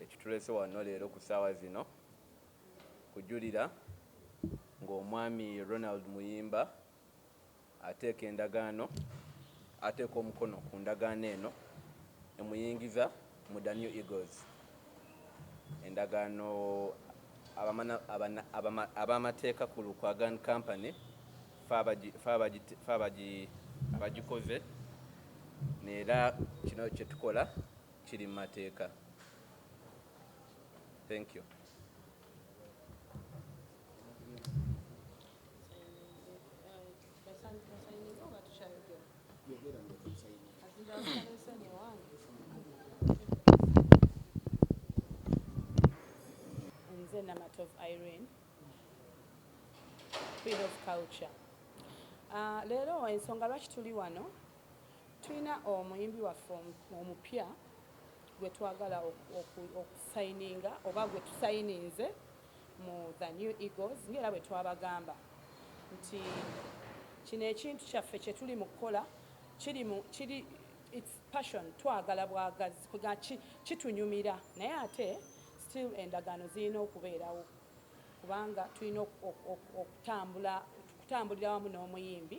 Ekituleese wano leero ku ssaawa zino kujulira ng'omwami Ronald Muyimba ateeka endagaano ateeka omukono ku ndagaano eno emuyingiza mu Da New Eagles endagaano ab'amateeka ku Lukwagan Company fe abagikoze era kino kye tukola kiri mumateeka thank you. Nze Namatovu Irene, Queen of Culture. Uh, leero ensonga lwaki tuli wano Tulina omuyimbi waffe omupya gwe twagala okusayininga oba gwe tusayininze mu The New Eagles ng'era bwe twabagamba nti kino ekintu kyaffe kye tuli mu kukola kiri mu kiri it's passion twagala bwagazi kwegamba ki kitunyumira naye ate still endagaano zirina okubeerawo kubanga tulina okutambula okutambulira wamu n'omuyimbi.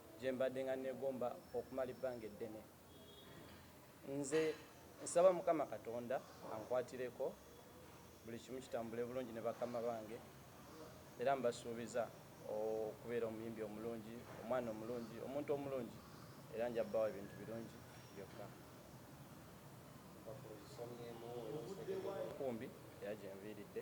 gye mbaddenga nneegomba okumala ebbanga eddene. Nze nsaba Mukama Katonda ankwatireko buli kimu kitambule bulungi ne bakama bange era mbasuubiza okubeera omuyimbi omulungi, omwana omulungi, omuntu omulungi era nja kubawa ebintu birungi byokka. Nkumbi era gye nviiridde.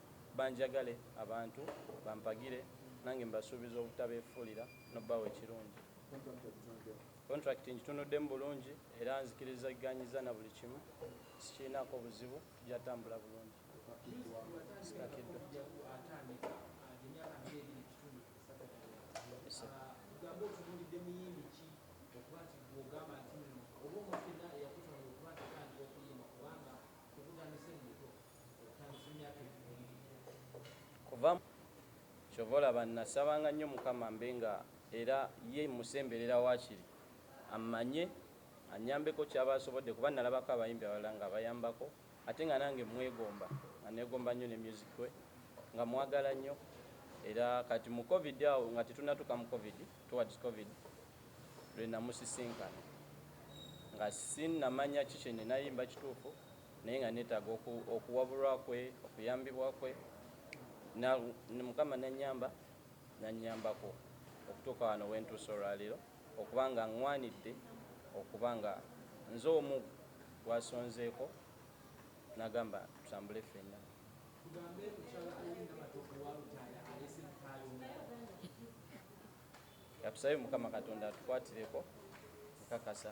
Banjagale abantu, bampagire nange mbasuubiza obutabeefuulira n'okubawa ekirungi. Kontulakiti ngitunuddemu bulungi era nzikirizagganyizza na buli kimu, sikirinaako buzibu, tujja tambula bulungi. Sikakiddwa. kuvamu kyova olaba nasabanga nnyo mukama mbe nga era ye musemberera wakiri ammanye annyambeko kyaba asobodde kuba nalabako abayimbi abalala nga abayambako ate nga nange mmwegomba nga negomba nnyo ne music we nga mwagala nnyo era kati mu covid awo nga tetunatuka mu covid towards covid lwenamusisinkana nga sinamanya ki kyenenayimba kituufu naye nga netaga oku, okuwabulwa kwe okuyambibwa kwe na, mukama nanyamba nanyambako okutuuka wano wentuuse olwalero okuba nga ngwanidde okuba nga nze omu gwasonzeeko nagamba tutambule ffenna. Tugambe mukyala Irene Namatovu wa Lutaaya aleese mpaayo mmeka? Katusabe mukama katonda atukwatireko nkakasa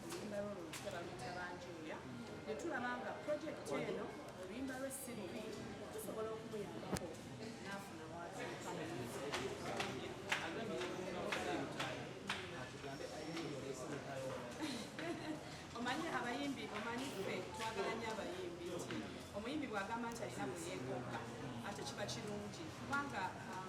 oluyimba lwo lulutya baluyita banjuuya ne tulaba nga pulojekiti eno oluyimba lwe si lubi tusobola okumuyambako n'afuna watuuka omanyi abayimbi omanyi ffe twagala nyo abayimbi nti omuyimbi bwagamba nti alina muyeekomba ate kiba kirungi kubanga um,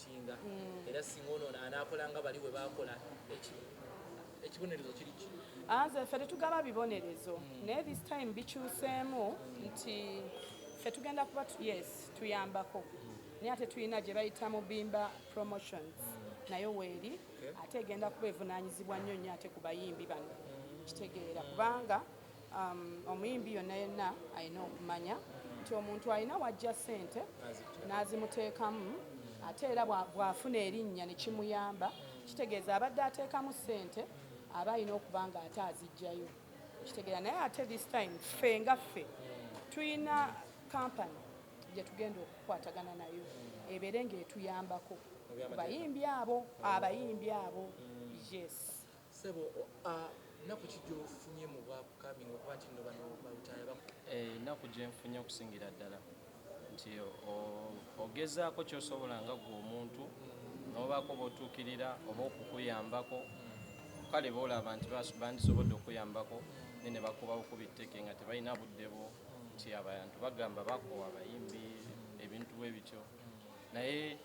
okusinga mm. era singa ono anaakola nga bali bwe baakola ekibonerezo kiri ki anze ah, ffe tetugaba bibonerezo mm. naye this time bikyuseemu nti ffe tugenda kuba yes tuyambako naye ate tulina gye bayita mu bimba promotions nayo weeri ate egenda kuba evunaanyizibwa nnyo nnyo ate ku bayimbi bano kitegeera kubanga Um, omuyimbi yonna yenna alina okumanya nti omuntu alina wajja sente n'azimuteekamu ate era bw'afuna erinnya ne kimuyamba kitegeeza abadde ateekamu sente aba alina okuba nga ate azijjayo kitegeera naye ate this time ffe nga ffe tulina kampani gye tugenda okukwatagana nayo ebeere ng'etuyambako bayimbi abo abayimbi abo mm. yes Ssebo a nnaku ki gy'ofunye mu bwa upcoming okuba nti nno bano ba lutaaya ba. Ennaku gye nfunye okusingira ddala nti o, ogezaako ky'osobola nga ggwe omuntu n'obaako b'otuukirira oba okukuyambako, kale b'olaba nti ba, bandisobodde okukuyambako naye ne bakuba bukubi tteke nga tebalina budde bwo, nti abantu bagamba bakoowa abayimbi, ebintu bwe bityo naye.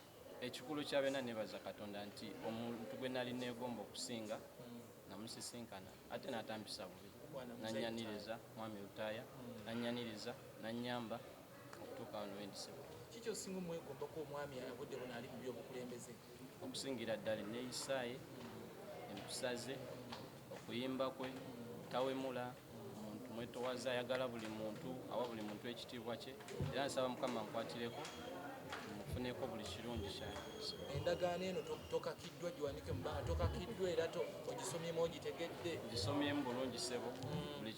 Ekikulu kya byonna neebaza Katonda nti omuntu gwe nali neegomba okusinga namusisinkana ate n'atampisa bubi n'annyaniriza, Mwami Lutaaya n'annyaniriza n'annyamba okutuuka wano we ndi Ssebo. Kiki ky'osinga omwegombako omwami obudde buno ali mu by'obukulembeze? Okusingira ddala enneeyisa ye, empisa ze, okuyimba kwe, tawemula, muntu mwetowaza ayagala buli muntu awa buli muntu ekitiibwa kye era nsaba mukama nkwatireko mufuneko buli kirungi kyange endagaano eno tokakiddwa giwandike mubanga tokakiddwa era ogisomyemu ogitegedde ngisomyemu bulungi sebo mm.